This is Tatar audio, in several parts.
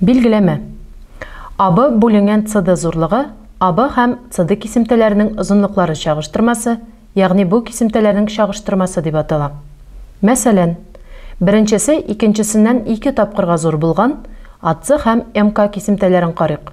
Билгеләмә. АБ бүленгән CD зурлыгы АБ һәм CD кисемтәләренең озынлыклары чагыштырмасы, ягъни бу кисемтәләрнең чагыштырмасы дип атала. Мәсәлән, беренчесе икенчесеннән ике тапкырга зур булган AC һәм MK кисемтәләрен карыйк.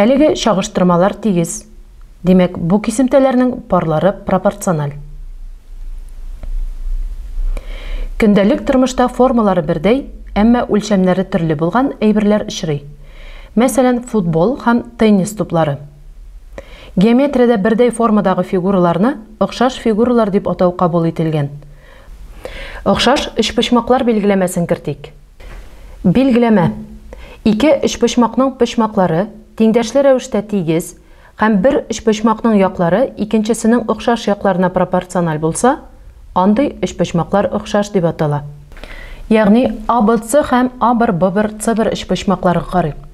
Әлеге чагыштырмалар тигез, димәк, бу кисемтәләрнең парлары пропорциональ. Көндәлек тормышта формалары бердәй, әмма үлчәмнәре төрле булган әйберләр очрый. Мәсәлән, футбол һәм теннис туплары. Геометриядә бердәй формадагы фигураларны охшаш фигуралар дип атау кабул ителгән. Охшаш өчпочмаклар билгеләмәсен кертик. Билгеләмә. Ике өчпочмакның почмаклары тиңдәшле рәвештә тигез һәм бер өчпочмакның яклары икенчесенең охшаш якларына пропорциональ булса, андый өчпочмаклар охшаш дип атала. Ягъни ABC һәм A1, B1, C1 өчпочмакларга карыйк.